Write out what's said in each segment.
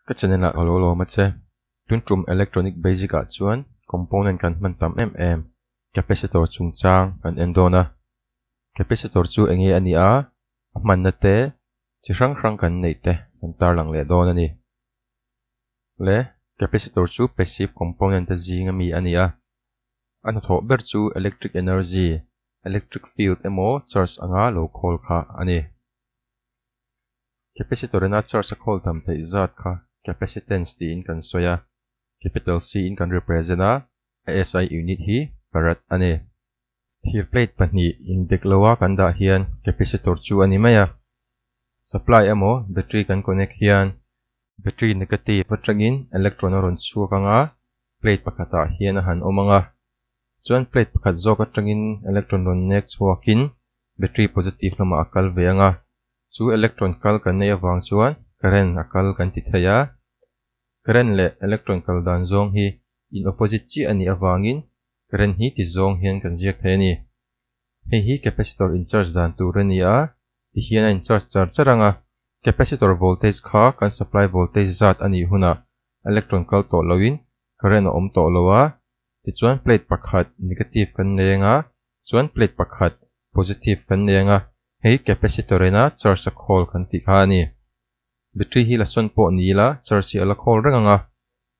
Ka channel ah ka lo lawm a che. Tun tum electronic basic ah chuan component kan hman tam em em. Capacitor chungchang kan en dawn a. Capacitor chu enge a nia a hmanna te chi hrang hrang kan neih te kan tarlang leh dawn a ni. Le capacitor chu passive component a zing ami a nia. A hnathawh ber chu electric energy, electric field emaw charge anga lo khawl kha a ni. Capacitor ina charge a khawl tham theih zat kha capacitance tiin kan sawi a, capital C in kan represent a, a SI unit hi farad a ni. Thir plate pahnih indek lo a kan dah hian capacitor chu a ni mai a. Supply emaw battery kan connect hian battery negative atangin electron a rawn chhuak ang a, plate pakhatah hian a han awm ang a. Chuan plate pakhat zawk atangin electron rawn nek chhuakin battery positive lamah a kal ve ang a. Chu electron kal kan neih avang chuan current a kal kan ti thei a. Current leh electron kal dan zawng hi in opposite chiah a nih avangin current hi ti zawng hian kan ziak thei a ni. Hei hi capacitor in charge dan tur a ni a, ti hian a in charge char char ang a. Capacitor voltage kha kan supply voltage zat a nih hunah electron kal tawh loin current a awm tawh lo a. Tichuan plate pakhat negative kan neng a, chuan plate pakhat positive kan neng a, Hei capacitor ena charge a khawl kan tih kha a ni. Battery hi la sawn pawh ni ila charge hi a la khawl reng ang a.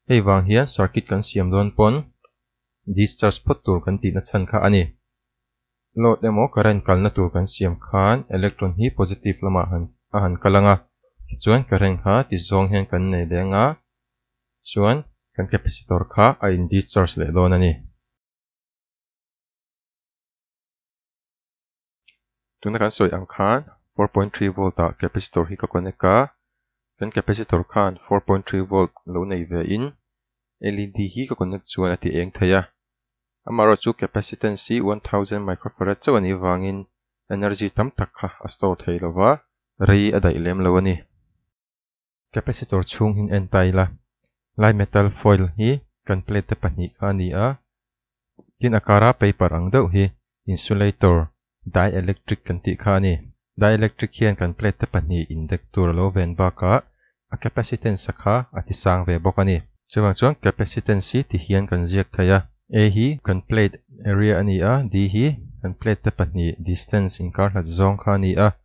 Hei vang hian circuit kan siam dawn pawn discharge phawt tur kan tihna chhan kha a ni. Load emaw current kalna tur kan siam khan electron hi positive lamah han a han kal ang a, tichuan current kha tizawng hian kan nei leh anga chuan kan capacitor kha a in discharge leh dawn a ni. Tuna kan sawi ang khan four point three volt ah capacitor hi ka connect a, kan capacitor khan four point three volt lo nei ve in LED hi ka connect chuan a ti eng thei a. Amaherawh chu capacitance hi one thousand microfarad chauh a nih vangin energy tam tak kha a store thei lo va, rei a daih lem lo a ni. Capacitor chhung hin n-ta ila, lai metal foil hi kan plate te pahnih kha a ni a, tin a kara paper ang deuh hi insulator dielectric kan tih kha a ni. Dielectric hian kan plate te pahnih indek tur a lo ven bakah a capacitance a kha a tisang ve bawk a ni. Chuvang chuan capacitance hi ti hian kan ziak thei a, A hi kan plate area a ni a, D hi kan plate te pahnih distance inkarhlat zawng kha a ni a,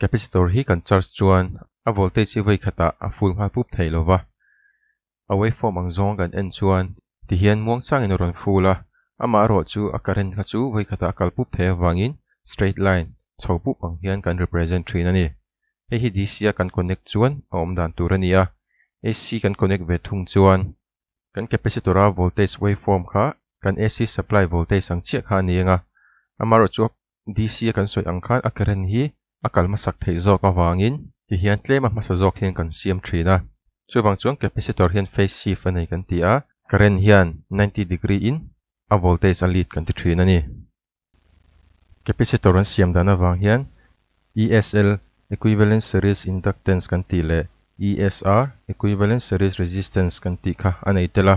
capacitor hi kan charge chuan a voltage hi vaikhatah a full nghal pup thei lova, a waveform ang zawnga kan en chuan ti hian muang changin a rawn full a, amah erawh chu a current kha chu vaikhatah a kal pup thei avangin straight line chho pup ang hian kan represent thin a ni. Hei hi DC a kan connect chuan a awm dan tur a ni a, AC kan connect ve thung chuan kan capacitor a voltage waveform kha kan AC supply voltage ang chiah kha a ni ang a, amaherawhchu a DC a kan sawi ang khan a karen hi a kal hmasak theih zawk avangin ti hian tlema hmasa zawk hian kan siam thin a, chuvang chuan capacitor hian phase shift a nei kan ti a, karen hian ninety degree in a voltage a lead kan ti thin a ni. Capacitor an siam dan avang hian ESL, Equivalent Series Inductance, kan tih leh ESR, Equivalent Series Resistance, kan tih kha a nei tel a,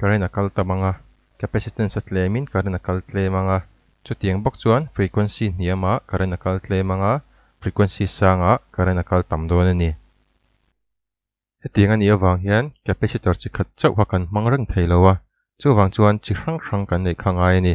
Current a kal ta mang a, capacitance a tlemin current a kal tle mang a. Chutiang bawk chuan frequency hniamah current a kal tle mang a, frequency sangah current a kal tam dawn a ni. Hetiang a nih avang hian capacitor chi khat chauh kha kan hmang reng thei lo a, chuvang chuan chi hrang hrang kan neih kha ngai a ni.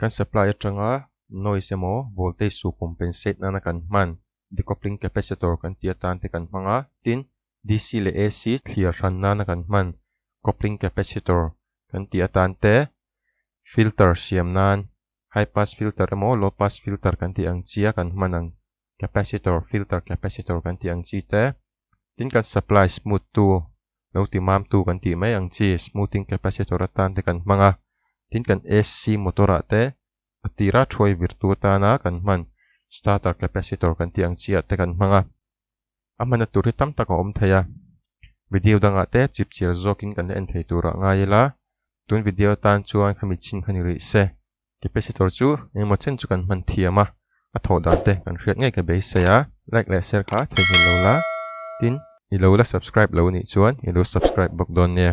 kan supply atanga noise emaw voltage suh compensate nana kan hman decoupling capacitor kan tih atan te kan hmang a, tin DC leh AC thlir hran nana kan hman coupling capacitor kan tih atan te filter siam nan high pass filter emaw low pass filter kan tih ang chi a kan hman ang. capacitor filter capacitor kan tih ang chi te tin kan supply smooth tu lo ti mam tu kan tih mai ang chi smoothing capacitor atan te kan hmang a tin kan AC motor ah te a tir a thuai vir tu atan a kan hman starter capacitor kan tih ang chi ah te kan hmang a a hman a tur hi tam tak a awm thei a video dang ah te chip chiar zawk in kan la en thei tur ah ngai ila tun video atan chuan khami chhin kha ni rih se. Capacitor chu engemaw chen chu kan hman thiam a, a thawh dan te kan hriat ngei ka beisei a, like leh share kha theihnghilh lo la, tin i lo la subscribe lo nih chuan i lo subscribe bawk dawn nia.